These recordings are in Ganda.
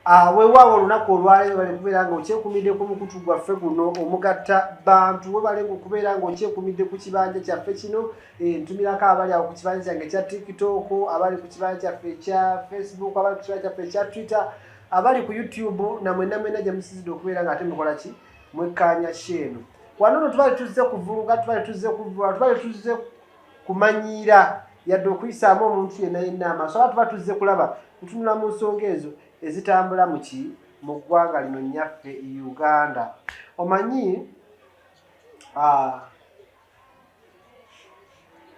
Ah, wewaawo olunaku olwaleero bale kubeera nga okyekumidde ku mukutu gwaffe guno omugatta bantu webale nga okubeera nga okyekumidde ku kibanja kyaffe kino eh, ntumirako abali awo ku kibanja kyange ekya tiktok abali ku kibanja kyaffe ekya facebook abali ku kibanja kyaffe ekya twitter abali ku youtube namwena mwena gyemusizidde okubeera nga ate mukola ki mwekkanya sheeno wano no tubali tuzze kuvuluga tubali tuzze kuvula tubali tuzze kumanyiira yadde okuyisaamu omuntu yenna yenna amaaso aba tuba tuzze kulaba ntunula mu nsonga ezo ezitambula mu ki mu ggwanga lino nyaffe uganda omanyi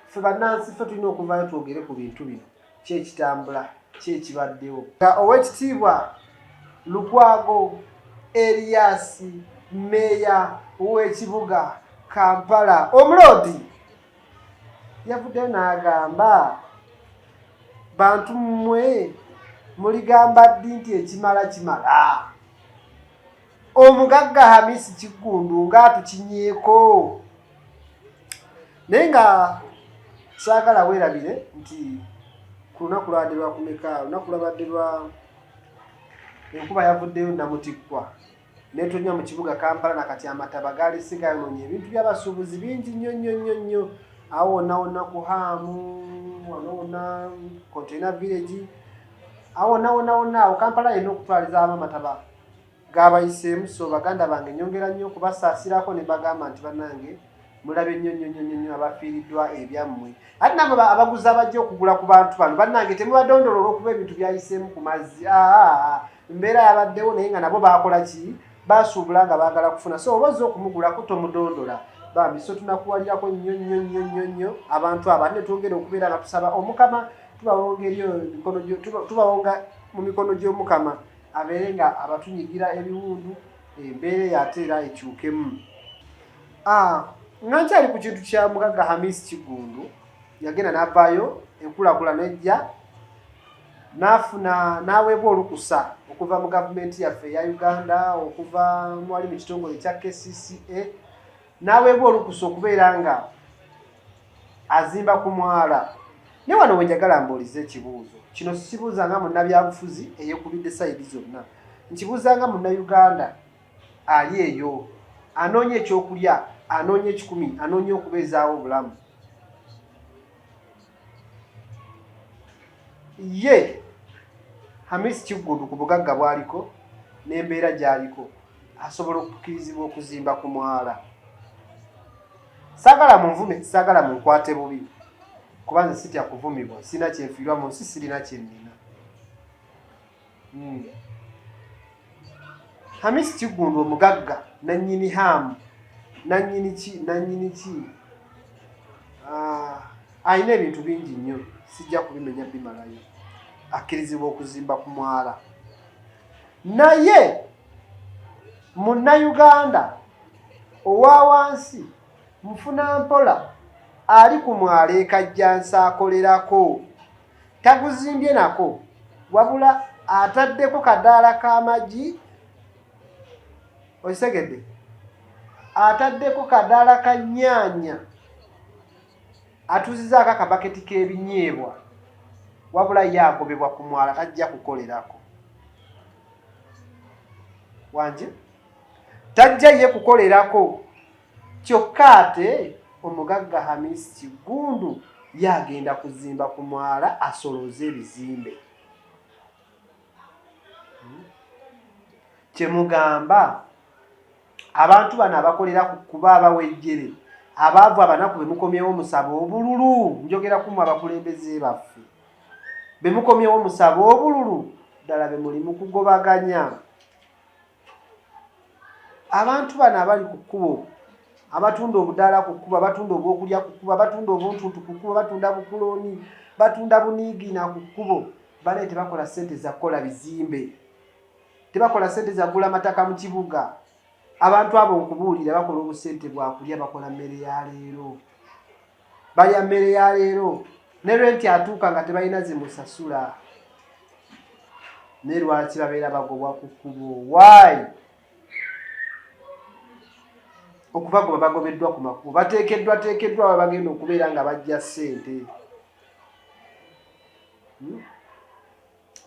ffe bannansi ffe tulina okuvaayo twogere ku bintu bino ki ekitambula ki ekibaddewo nga owekitiibwa lukwago eriyasi meeya w'ekibuga kampala omuloodi yavudde n'agamba bantu mmwe muligamba ddi nti ekimala kimala omugagga hamisi kiggundu nga atukinyeeko naye nga saagala weerabire nti ku lunaku lwabadde lwakumeka lunaku lwabadde lwa enkuba yavuddeyo namutikkwa netonnya mu kibuga kampala nakati amataba gaali sigayononya ebintu byabasuubuzi bingi nnyo nnyo nnyo nnyo awo wonna wonna ku haamu wano wonna containa village awo wonna wonna wonna awo kampala yena okutwalizamu amataba gaabayiseemu so baganda bange nyongera nnyo okubasaasirako ne bagamba nti banange mulabye nnyo nnyo nnyo nnyo abafiiriddwa ebyammwe ate nabo abaguzi abajja okugula ku bantu bano bannange temubadondolo olwokuba ebintu byayiseemu ku mazzi aa mbeera yabaddewo naye nga nabo baakola ki basuubula nga baagala kufuna so oba ozza okumugulako tomudondola bambi so tunakuwalirako nnyo nnyo nnyo nnyo nnyo abantu aba ne twongere okubeera nga tusaba omukama tubawonga eri emikono tubawonga mu mikono gy'omukama abeere nga abatunyigira ebiwundu embeera eyo ate era ekyukemu ah, nga nkyali ku kintu kya mugagga hamis kigundu yagenda navaayo enkulakula nejja nafuna naweebwa olukusa okuva mu gavumenti yaffe eya uganda okuva mwali mu kitongole ekya kcca n'aweebwa olukusa okubeera nga azimba ku mwala naye wano wenjagala mbuulize ekibuuzo kino sikibuuza nga munnabyabufuzi eyekubidde sayidi zonna nkibuuza nga munnayuganda ali eyo anoonya ekyokulya anoonya ekikumi anoonya okubeezaawo obulamu ye hamis kiggundu ku bugagga bwaliko n'embeera gy'aliko asobola okukirizibwa okuzimba ku mwala saagala munvume saagala munkwate bubi kuba nze sitya kuvumibwa sirina kyenfiirwa mu nsi sirina kyennina Hmm. Hamis Kiggundu omugagga nannyini haamu nannyini ki nannyini ki ah, alina ebintu bingi nnyo sijja kubimenya bimalayo akkirizibwa okuzimba ku mwala naye munnayuganda owa wansi mufuna mpola ali ku mwala ekajjansi akolerako taguzimbye nako wabula ataddeko kadaala k'amagi okitegedde ataddeko kadaala ka nyaanya atuuzizaako akabaketi k'ebinyeebwa wabula ye agobebwa ku mwala tajja kukolerako wanje tajja ye kukolerako Kyokka ate omugagga Hamis Kiggundu ye agenda kuzimba ku mwala asolooze ebizimbe. Hmm? Kye mugamba abantu bano abakolera ku kuba abawejjere abaavu abanaku be mukomyewo musaba obululu njogera kumwe abakulembeze baffe be mukomyewo musaba obululu ddala be muli mu kugobaganya abantu bano abali ku kkubo abatunda obudaala ku kkubo abatunda obwokulya ku kkubo abatunda obuntuntu ku kkubo batunda bukulooni batunda buniigiina ku kkubo banaye tebakola ssente za kukola bizimbe tebakola ssente za kugula mataka mu kibuga abantu abo nkubuulira bakola obusente bwakulya bakola mmere ya leero balya mmere ya leero ne renti atuuka nga tebalina zimusasula ne lwaki babeera bagobwa ku kkubo waayi okubagoba bagobeddwa ku makubo bateekeddwa teekeddwa aba bagenda okubeera nga bajja ssente hmm?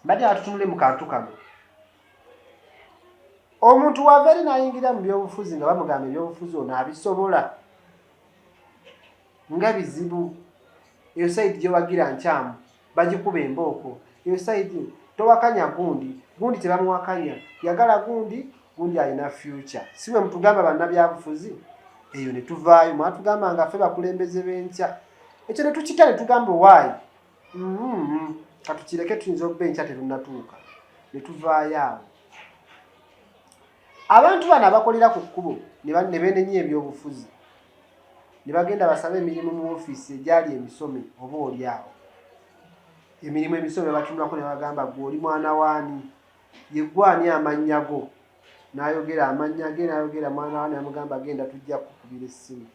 badde atutunule mu kantu kano omuntu wava eri nayingira mu byobufuzi nga bamugamba ebyobufuzi ono abisobola nga bizibu eyo sayidi gyewagira nkyamu bagikuba embooko eyo sayidi towakanya gundi gundi tebamuwakanya yagala gundi gundi alina future si bwe mutugamba bannabyabufuzi eyo ne tuvaayo mwatugamba nga ffe bakulembeze b'enkya ekyo ne tukita ne tugamba owaayi mm-hmm. katukireke tuyinza okuba enkya terunnatuuka ne tuvaayo awo abantu bano abakolera ku kkubo ne benenya ebyobufuzi ne bagenda basaba emirimu mu ofiisi egyali emisome oba oli awo emirimu emisome batunulako ne bagamba gwe oli mwana waani yeggwani amannya go n'ayogera amannya ge n'ayogera mwana waani amugamba genda tujja kukubira essimu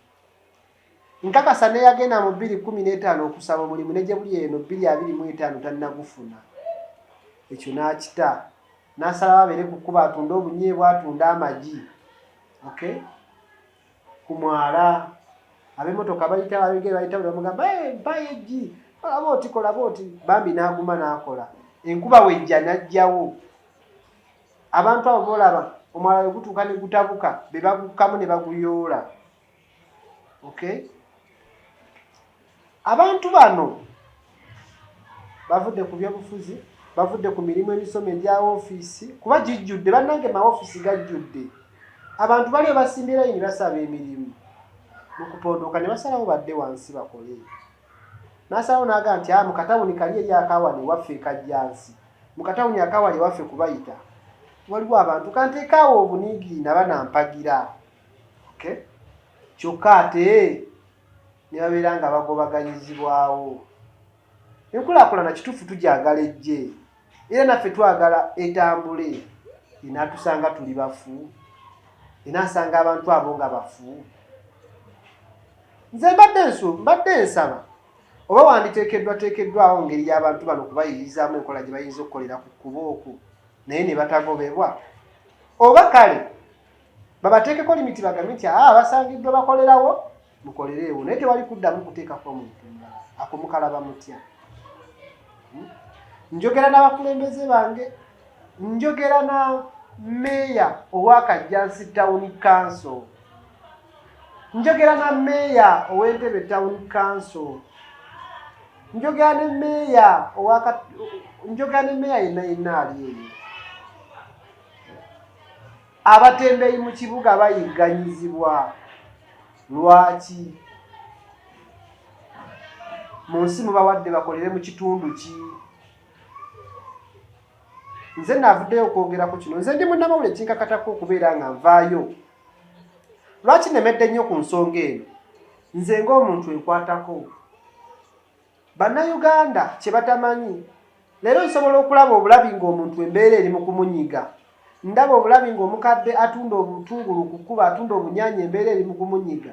Nkakasa n'eyagenda mu bbiri kkumi n'etaano okusaba omulimu ne gye buli eno bbiri abiri mu etaano tannagufuna. Ekyo n'akita n'asalawo abeere ku kkuba atunde obunyeebwa atunde amagi okay? ku mwala ab'emmotoka bayita ababigere bayita buli bamugamba mpayo eggi olaba oti kolaba oti bambi n'aguma n'akola enkuba wejja n'ajjawo abantu abo boolaba omwala we gutuuka ne gutabuka be bagukkamu ne baguyoola okay abantu bano bavudde ku byobufuzi bavudde ku mirimu emisomo egya ofiisi kuba gijjudde bannange maofiisi gajjudde abantu bali ebasimbira yini basaba emirimu mu kupondoka ne basalawo badde wansi bakole nasalawo naaga nti a ah, mukatawuni kali eri akawani waffe ekajjansi mukatawuni akawali waffe kubayita waliwo abantu kanteekaawo obuniigiina banampagira kyokka ate ne babeera nga bagobaganyizibwawo enkulaakulana kituufu tugyagala ejje era naffe twagala etambule enaatusanga tuli bafu enaasanga abantu abo nga bafu nze mbadde nsu mbadde nsaba oba wanditeekeddwa teekeddwawo ngeri y'abantu bano kubayirizamu enkola gye bayinza okukolera ku kkuba oku naye ne batagobebwa oba kale babateekeko limiti bagambe nti aa ah, basangiddwa bakolerawo mukolereewo naye tewali kuddamu kuteekako omuntu mulala ako mukalaba mutya hmm? njogera n'abakulembeze bange njogera na meeya owakajjansi tawuni kanso njogera na meeya ow'entebe tawuni kanso njogera ne meeya njogera ne meeya yenna yenna ali eyo abatembeyi mu kibuga bayigganyizibwa lwaki mu nsi mubawadde bakolere mu kitundu ki nze navuddeyo okwogerako kino nze ndi munamawule kinkakatako okubeera nga nvaayo lwaki nemedde nnyo ku nsonga eno nze ngaomuntu enkwatako Bannayuganda kye batamanyi leero nsobola okulaba obulabi ng'omuntu embeera eri mu kumunyiga ndaba obulabi ng'omukadde atunda obutungulu ku kkuba atunda obunyanya embeera eri mu kumunyiga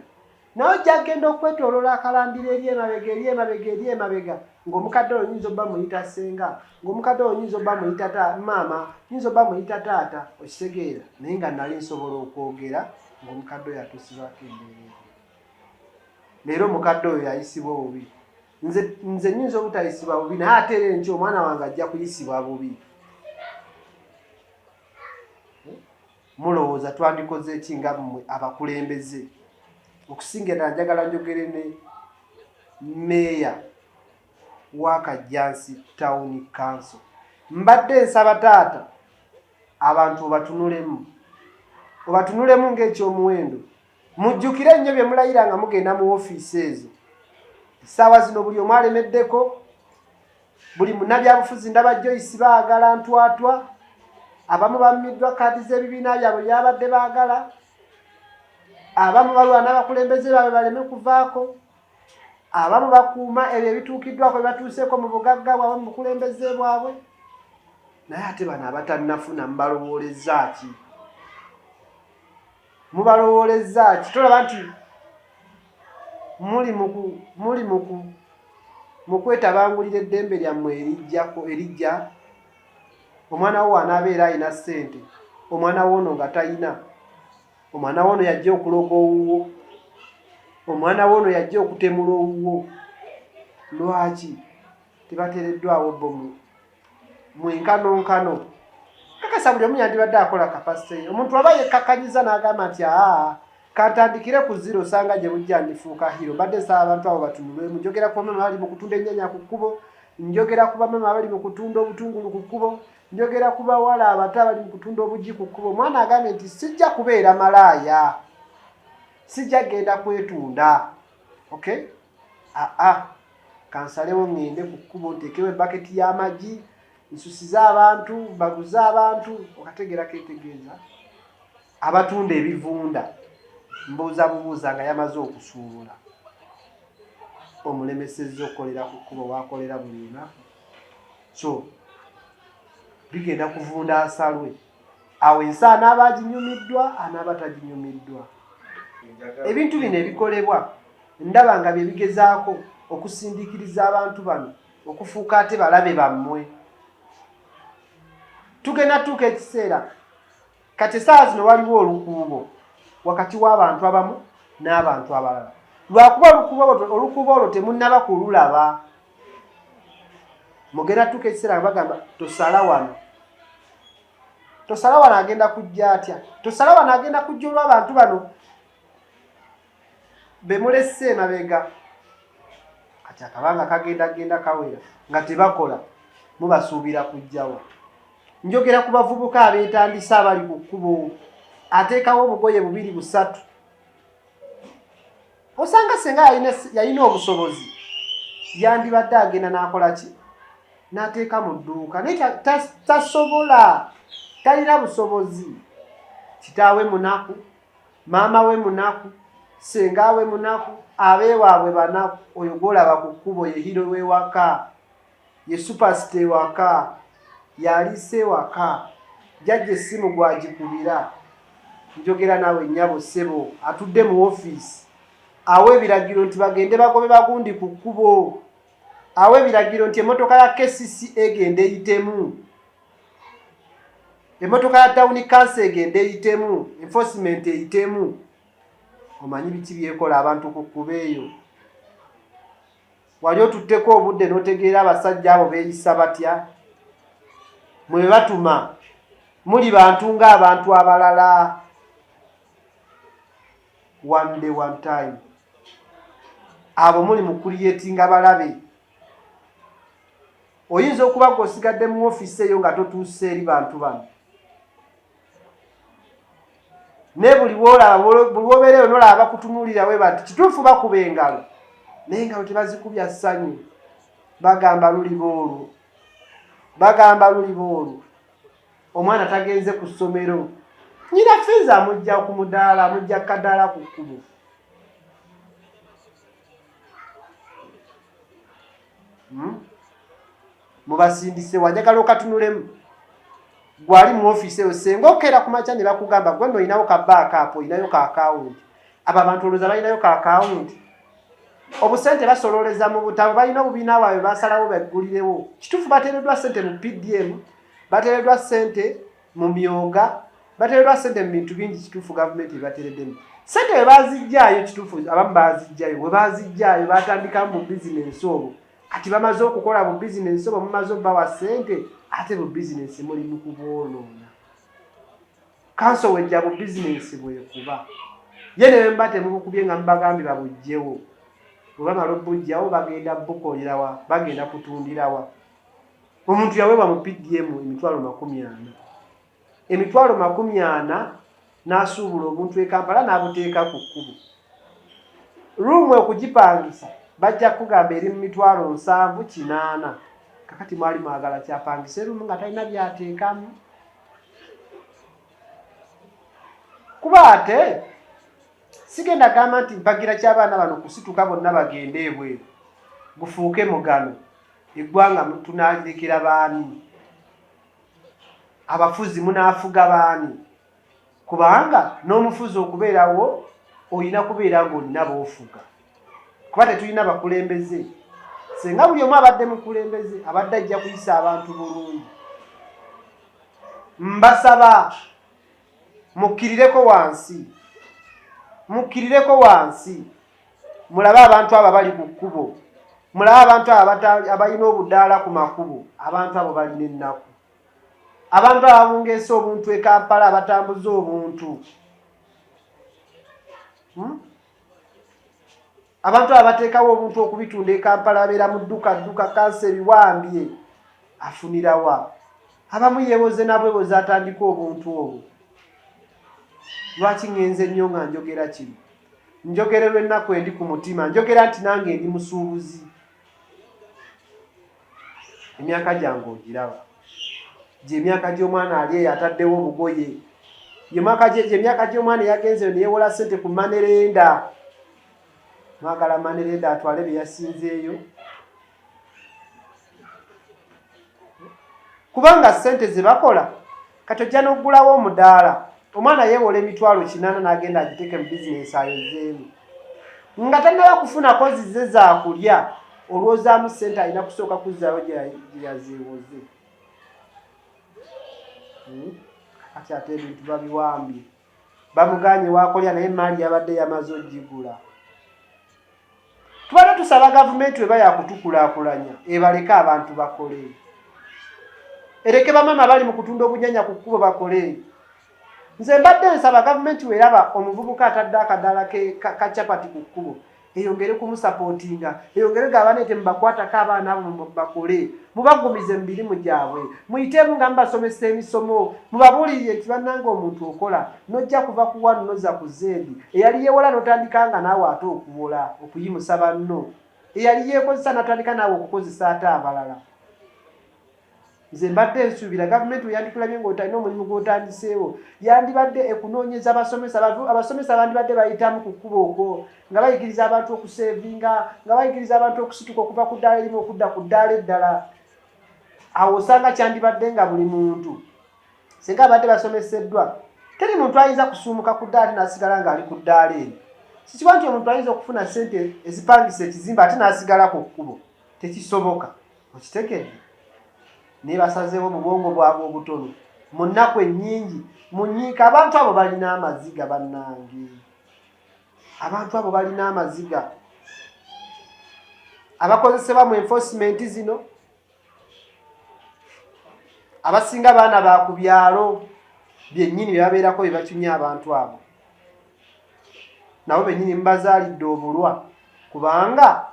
naye ojja kugenda okwetoolola akalambira eri emabega eri emabega eri emabega ng'omukadde oyo nyinza obba muyita ssenga ng'omukadde oyo nyinza obba muyita maama nyinza obba muyita taata okitegeera naye nga nali nsobola okwogera ng'omukadde oyo atuusibwako embeera leero mukadde oyo yayisibwa obubi nze nze nyinza obutayisibwa bubi naye ate era enkyo omwana wange ajja kuyisibwa bubi mulowooza twandikoze ki nga mmwe abakulembeze okusinga era njagala njogere ne meeya wa kajjansi tawuni kanso mbadde nsaba taata abantu obatunulemu obatunulemu ng'ekyomuwendo Mujjukire nnyo bye mulayira nga mugenda mu ofiisi ezo. Essaawa zino buli omu alemeddeko, buli munnabyabufuzi ndaba Joyce baagala ntwatwa, abamu bammiddwa kaadi z'ebibiina byabwe byabadde baagala, abamu balwana abakulembeze baabwe baleme kuvaako, abamu bakuuma ebyo ebituukiddwako bye batuuseeko mu bugagga bwabwe mu bukulembeze bwabwe, naye ate bano abatannafuna mubalowoolezza ki? mubalowoolezza ki tolaba nti muli muku muli muku mu kwetabangulira eddembe lyammwe erijjako erijja omwana wo anaabeera alina ssente omwana woono nga talina omwana woono yajja okuloga owuwo omwana woono yajja okutemula owuwo lwaki tebateereddwawo bomu mu enkanonkano kakasa buli omu yandibadde akola kapasite ye omuntu aba yekkakanyiza n'agamba nti aa kantandikire ku ziro osanga gye bujja ndifuuka hiro mbadde nsaba abantu abo batunulwemu njogera ku bamama abali mu kutunda ennyanya ku kkubo njogera ku bamama abali mu kutunda obutungulu ku kkubo njogera ku bawala abato abali mu kutunda obuggi ku kkubo omwana agambye nti sijja kubeera malaaya sijja genda kwetunda okay aa ah, ah. kansalewo ŋŋende ku kkubo nteekewo ebaketi y'amagi nsusize abantu mbaguze abantu okategeera ketegeeza abatunda ebivunda mbuuza bubuuza nga yamaze okusuubula omulemesezza okukolera ku kkubo wakolera buli lunaku so bigenda kuvunda asalwe awo ensi anaaba aginyumiddwa anaaba taginyumiddwa ebintu bino ebikolebwa ndaba nga bye bigezaako okusindiikiriza abantu bano okufuuka ate balabe bammwe tugenda tuuka ekiseera kati esaawa zino waliwo olukuubo wakati w'abantu abamu n'abantu abalala lwakuba olukuubo olwo temunnaba kululaba mugera tuka ekiseera nga bagamba tosala wano tosala wano agenda kujja atya tosala wano agenda kujja olw'abantu bano bemulese emabega kati akabanga kagenda genda kawera nga tebakola mubasuubira kujjawa njogera ku bavubuka abeetandisa abali ku kkubo ateekawo obugoye bubiri busatu osanga senga yalina yalina obusobozi yandibadde agenda n'akola ki n'ateeka mu dduuka naye tasobola talina busobozi kitaawe munaku maama we munaku senga we munaku abeewaabwe banaku oyo gwolaba ku kkubo yehiro wewaka ye supasita ewaka yaliisa ewaka jajja essimu gwagikubira njogera naawe nnyabo ssebo atudde mu ofiisi awa ebiragiro nti bagende bagobe bagundi ku kkubo awa ebiragiro nti emmotoka ya kcc egenda eyitemu emmotoka ya tawuni kansa egenda eyitemu enforcement eyitemu omanyi biki byekola abantu ku kkuba eyo wali otutteko obudde n'otegeera abasajja abo beeyisa batya mwe batuma muli bantu ng'abantu abalala one day one time abo muli mu kuliyetinga balabe oyinza okuba gwe osigadde mu ofiisi eyo nga totuuse eri bantu bano naye buli wolaba buli wobeereyo nolaba bakutunuulira weba nti kituufu bakuba engalo naye engalo tebazikubya ssanyu bagamba luliba olwo bagamba luliba olwo omwana tagenze ku ssomero nyina fiizi amujja ku mudaala amujja kadaala ku kkubo hmm? mubasindise wanjagala okatunulemu gwali mu ofiisi eyo senga okeera ku makya ne bakugamba gwe no olinawo ka baaka apo olinayo ka akawunti abo abantu olowooza balinayo ka akawunti obusente basolooleza mu butabo balina obubiina bwabwe basalawo baggulirewo kituufu bateereddwa sente mu pdm bateereddwa sente mu myoga bateereddwa sente mu bintu bingi kituufu gavumenti ebateereddemu sente we bazijjaayo kituufu abamu bazijjayo we bazijjaayo batandikamu mu bizinensi obwo kati bamaze okukola bu bizinensi oba mumaze obawa sente ate bu bizinensi muli mu kubwonoona kanso wejja bu bizinensi bwekuba ye ne bemba temubukubye nga mubagambye babujjewo bwebamala obujjawo bagenda bukolerawa bagenda kutundirawa omuntu yaweebwa mu pdm emitwalo makumi ana emitwalo makumi ana n'asuubula omuntu e kampala n'abuteeka ku kkubo ruumu okugipangisa bajja kukugamba eri mu mitwalo nsanvu kinaana kakati mwali mwagala kyapangisa eruumu nga talina byateekamu kuba ate sigenda gamba nti mpagira ky'abaana bano kusituka bonna bagende ebweru gufuuke mugano eggwanga tunalirekera baani abafuzi munaafuga baani kubanga n'omufuzi okubeerawo olina kubeera ng'olina boofuga kuba tetulina bakulembeze singa buli omu abadde mukulembeze abadde ajja kuyisa abantu bulungi mbasaba mukkirireko wansi mukkirireko wansi mulabe abantu abo abali ku kkubo mulabe abantu abo abalina obudaala ku makubo abantu abo balina ennaku abantu abo abungeesa obuntu e kampala abatambuza obuntu hmm? abantu abo abateekawo obuntu okubitunda e kampala abeera mu dduka dduka kansa ebiwambye afunirawa abamu yewoze nabweboze atandika obuntu obwo lwaki ngenze nnyo nga njogera kino njogererwa ennaku endi ku mutima njogera nti nange ndi musuubuzi emyaka gyange ogiraba gye emyaka gy'omwana ali eyo ataddewo obugoye emyaka gy'omwana eyagenzeyo neyewola sente ku manerenda mwagala manerenda atwale bye yasinzeeyo kubanga sente zebakola kati ojja nokugulawo omudaala omwana yewola emitwalo kinana nagenda agiteke mu bizinesi ayozeemu nga tanaba kufunako zize zakulya olwozaamu sente alina kusooka kuzaayo gyeyazeewoze hmm? kati ate ebintu babiwambye bamuganye wakolera naye maali yabadde yamaze ogigula tubadde tusaba gavumenti weba yakutukulakulanya ebaleke abantu bakole ereke bamama bali mu kutunda obunyanya ku kkubo bakole nze mbadde nsaba gavumenti weraba omuvubuka atadde akadala kacapati ku kkubo eyongere kumusapotinga eyongere gaba nete mubakwatako abaana abo bakole mubagumize mumirimu gyabwe muyitemu nga mubasomesa emisomo mubabulirire nti bananga omuntu okola nojja kuva kuwa noza ku zendi eyali yewola notandika nga naawe ate okuwola okuyimusa banno eyali yekozesa natandika naawe okukozesa ate abalala nze mbadde nsuubira gavumenti weyandikulabye ngaotalina omulimu gwotandiseewo yandibadde ekunoonyeza abasomesa abasomesa bandibadde bayitamu ku kkuba okwo nga bayigiriza abantu okuseevinga nga bayigiriza abantu okusituka okuva ku ddaala erimu okudda ku ddaala eddala awo osanga kyandibadde nga buli muntu singa abadde basomeseddwa teri muntu ayinza kusuumuka ku ddaala ti nasigala ngaali ku ddaala eri sikiba nti omuntu ayinza okufuna sente ezipangisa ekizimba ate nasigala ku kkubo tekisoboka okitegedde naye basazeewo mubwongo bwabwe obutono mu nnaku ennyingi munyiika abantu abo balina amaziga bannange abantu abo balina amaziga abakozesebwa mu enforcement zino abasinga baana ba ku byalo byennyini bye babeerako bye bakinya abantu abo nabo bennyini mubazaalidde obulwa kubanga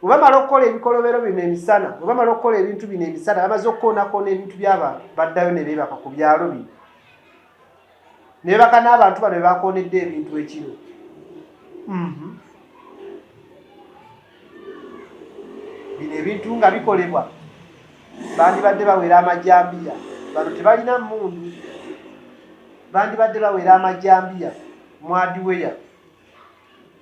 bwe bamala okukola ebikolobero bino emisana bwe bamala okukola ebintu bino emisana bamaze okukoonakoona ebintu byabantu baddayo ne beebaka ku byalo bino ne beebaka n'abantu bano be bakoonedde ebintu ekiro mhm. bino ebintu nga bikolebwa bandibadde bawera amajambiya bano tebalina mundu bandibadde bawera amajambiya mwadiweya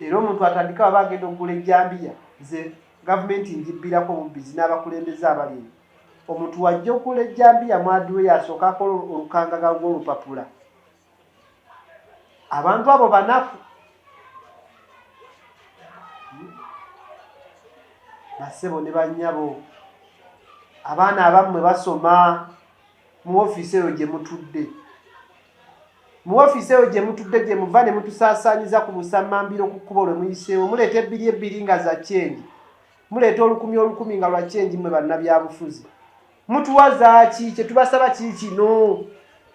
era omuntu atandika aba agenda okugula ejjambiya nze gavumenti njibbirako obubbizi n'abakulembeze abali eyo omuntu wajja okugula ejjambiya mwadiwe yasooka akola olukangaga lw'olupapula abantu abo banafu basebo ne banyabo abaana abammwe basoma mu ofiisi eyo gye mutudde mu ofiisi eyo gye mutudde gye muva ne mutusaasaanyiza ku busammambiro ku kkubo lwe muyiseewo muleeta ebbiri ebbiri nga za kyengi muleeta olukumi olukumi nga lwa kyengi mmwe bannabyabufuzi mutuwa zaaki kye tubasaba kiri kino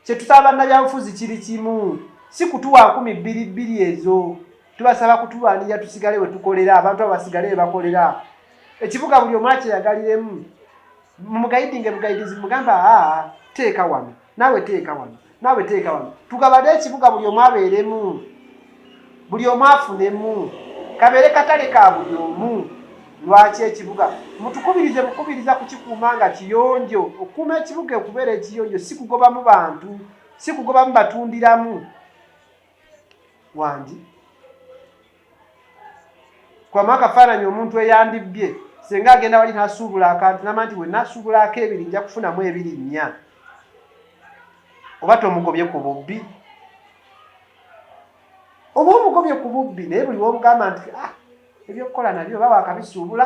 kye tusaba bannabyabufuzi kiri kimu si kutuwa nkumi bbiri bbiri ezo tubasaba kutulwanirira tusigale we tukolera abantu abo basigale we bakolera ekibuga buli omu akyeyagaliremu mumugayidinge bugayidizi mugamba aa teeka wano naawe teeka wano naawe teeka wano tugabade ekibuga buli omu abeeremu buli omu afunemu kabeere katale ka buli omu lwaki ekibuga mutukubirize mukubiriza kukikuuma nga kiyonjo okukuuma ekibuga okubeera ekiyonjo si kugobamu bantu si kugobamu batundiramu wangi kwamu akafaananyi omuntu eyandibbye singa agenda wali nasuubula akantu nama nti wenasuubulaako ebiri nja kufunamu ebiri nnya oba tomugobye ku bubbi oba omugobye ku bubbi naye buli womugamba nti ah, ebyokukola nabyo oba wakabisuubula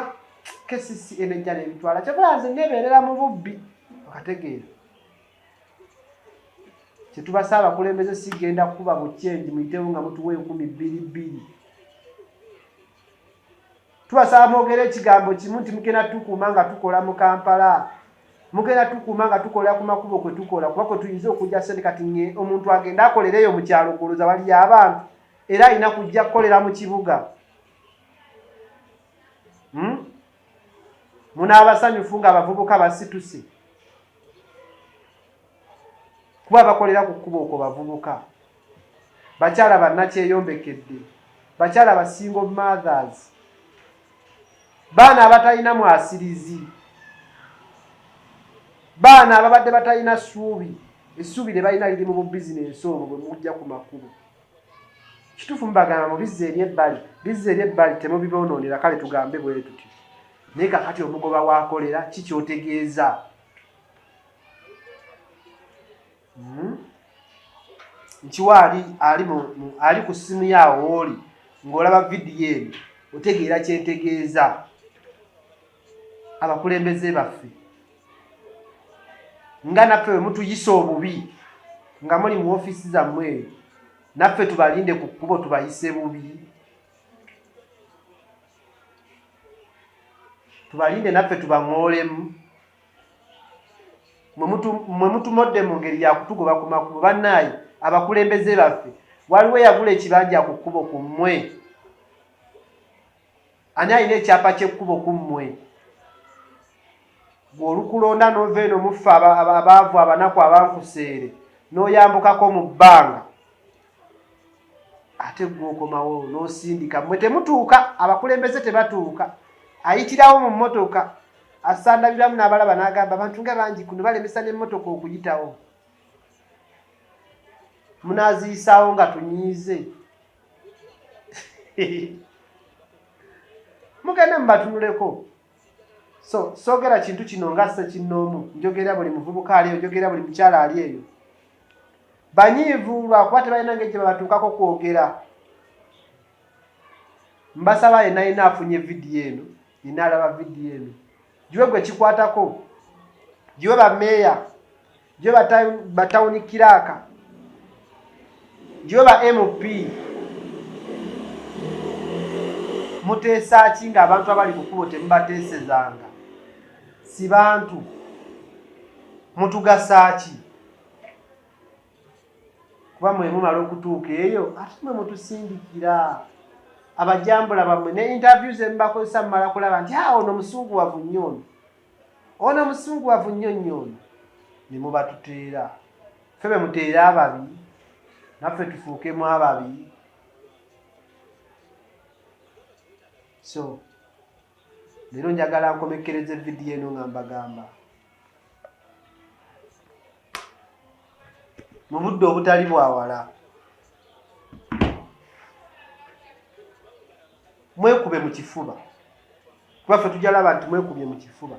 kesisi enejja nebitwala kyokola nze nebeerera mu bubbi okategeera kyetubasa abakulembeze sigenda kukuba buchenji muyitewo nga mutuwa enkumi bbiri bbiri tubasaba mwogere ekigambo kimu nti mugenda tukuuma nga tukola mu kampala mugenda tukuuma nga tukola ku makubo kwe tukola kuba kwe tuyinza okujja sente kati nge omuntu agenda akolereeyo mu kyalo kuloza waliyo abantu era alina kujja kukolera mu kibuga hmm? munaabasanyufu ng'abavubuka basituse kuba bakolera ku kkubo okwo bavubuka bakyala bannakyeyombekedde bakyala basingo mothers baana abatalina mwasirizi baana ababadde batalina ssuubi essuubi lye balina liri mu bubizinensi obwo bwe mujja ku makubo kitufu mubagamba mubizza eri ebbali bizza eri ebbali temubibonoonera kale tugambe bwe tuti naye kakati omugoba wakolera ki kyotegeeza hmm? nkiwa ali ali ali ku ssimu yaawo oli ng'olaba vidiyo eno otegeera kyentegeeza abakulembeze baffe nga naffe bwe mutuyisa obubi nga muli mu ofiisi zammwe eyo naffe tubalinde ku kkubo tubayise bubi tubalinde naffe tubaŋoolemu mwe mutumodde mu ngeri yakutugoba ku makubo bannaayi abakulembeze baffe waliwo yagula ekibanja ku kkubo ku mmwe Ani alina ekyapa ky'ekkubo ku mmwe? Gwe olukulonda n'ova eno muffe abaavu abanaku abankuseere n'oyambukako mu bbanga ate gwe okomawo n'osindika. Mmwe temutuuka, abakulembeze tebatuuka. Ayitirawo mu mmotoka asandabiramu n'abalaba n'agamba abantu nga bangi kuno balemesa n'emmotoka okuyitawo. Munaaziyisaawo nga tunyiize. mugende mubatunuleko so sogera kintu kino nga sekinnoomu njogera buli muvubuka ali eyo njogera buli mukyala ali eyo banyiivu lwakuba tebalina ngeri gye babatuukako kwogera mbasaba yenayina afunye vidiyo eno yina alaba vidiyo eno giwe gwe kikwatako giwe bameeya giwe batawuni kiraaka giwe ba mp muteesa ki ng'abantu abali ku kubo temubateesezanga si bantu mutugasa ki kuba mwe mumala okutuuka eyo ate mwe mutusindikira abajambula bamwe ne interview zemubakozesa mumala kulaba nti a ah, ono musungu wavu nnyo ono ono musungu wavu nnyo nnyo ono ne mubatuteera fe be muteere ababi naffe tufuukemu ababi so leero njagala nkomekkereze vidiyo eno nga mbagamba mu budde obutali bwawala mwekube mu kifuba kuba ffe tujja laba nti mwekubye mu kifuba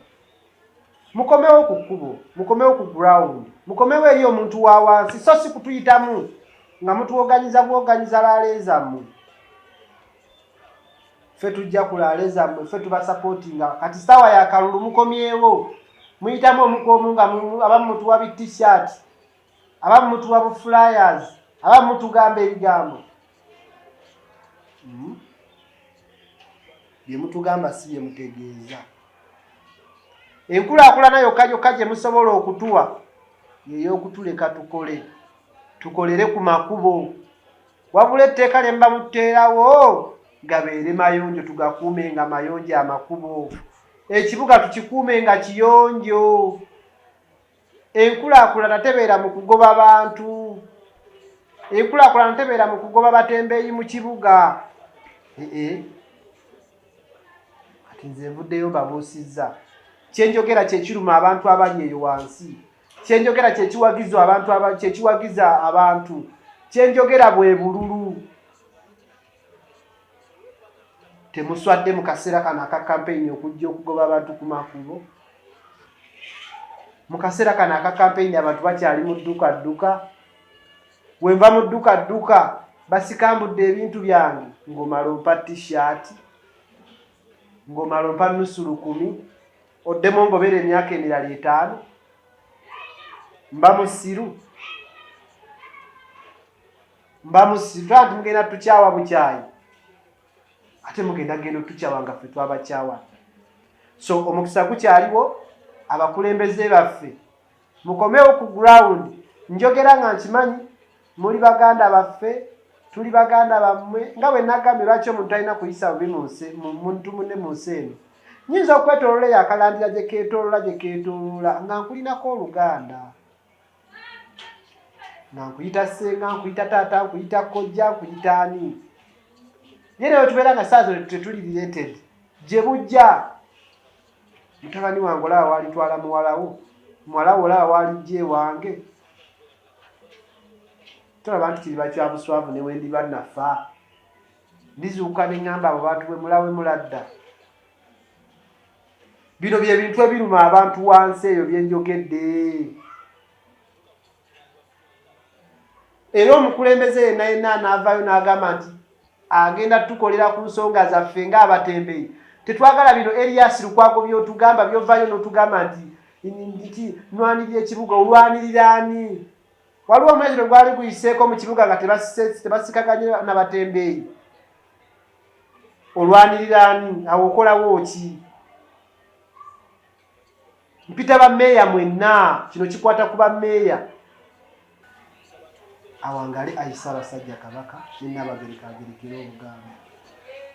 mukomewo ku kkubo mukomewo ku ground mukomewo eri omuntu wa wansi so si kutuyitamu nga mutuwoganyiza buwoganyiza laaleezammwe ffe tujja kulaale zammwe ffe tubasapootinga kati saawa ya kalulu mukomyewo muyitamu omukwomu nga abamu mutuwa bi t-shirt abamu mutuwa bu flyers abamu mutugamba ebigambo hmm? byemutugamba si byemutegeeza enkulaakulana yokka yokka gye musobola okutuwa yeyokutuleka tukole tukolere ku makubo wabula etteeka lye muba muteerawo gabeere mayonjo tugakuume nga mayonjo amakubo ekibuga tukikuume nga kiyonjo enkulaakulana tebeera mu kugoba bantu enkulaakulana tebeera mu kugoba batembeeyi mu kibuga ee kati nze nvuddeyo mbabuusizza kyenjogera kyekiruma abantu abali eyo wansi kyenjogera kyekiwagiza abantu kyekiwagiza abantu kyenjogera bwe bululu temuswadde mu kaseera kano aka kampeyini okujja okugoba abantu ku makubo mu kaseera kano aka kampeyini abantu bakyali mu dduka dduka wenva mu dduka dduka basikambudde ebintu byange ng'omala ompa tishaati ng'omala ompa nusu lukumi oddemu ngobeera emyaka emirala etaano mba musiru mba musiru taa nti mugenda tukyawa bukyayi ate mugenda genda otukyawa nga ffe twabakyawa so omukisa gukyaliwo abakulembeze baffe mukomewo ku ground njogera nga nkimanyi muli baganda baffe tuli baganda bammwe nga bwe nagambye lwaki omuntu alina kuyisa bubi muntu munne mu nsi eno nyinza okwetolola eyo akalandira gye keetolola gye keetolola nga nkulinako oluganda nga nkuyita senga nkuyita taata nkuyita kojja nkuyita ani naye nawe tubeera nga saa zino tetuli related gye bujja mutabani wange olaba walitwala muwalawo muwala wo olaba walijja ewange tolaba nti kiriba kya buswavu ne wendiba nafa ndizuuka ne ŋŋamba abo bantu bwe mulawe muladda bino bye bintu ebiruma abantu wansi eyo bye njogedde era omukulembeze yenna yenna anaavaayo n'agamba nti agenda tukolera ku nsonga zaffe ng'abatembeyi tetwagala bino elias lukwago byotugamba byovaayo n'otugamba nti nti nwanirira ekibuga olwanirira ani waliwo omwezi lwe gwali guyiseeko mu kibuga nga tebasikaganye nabatembeeyi olwanirira ani awo okolawo ki mpita bameeya mwenna kino kikwata ku bameeya awangale ayi ssaabasajja kabaka ne nnaabagereka agerekere obugambo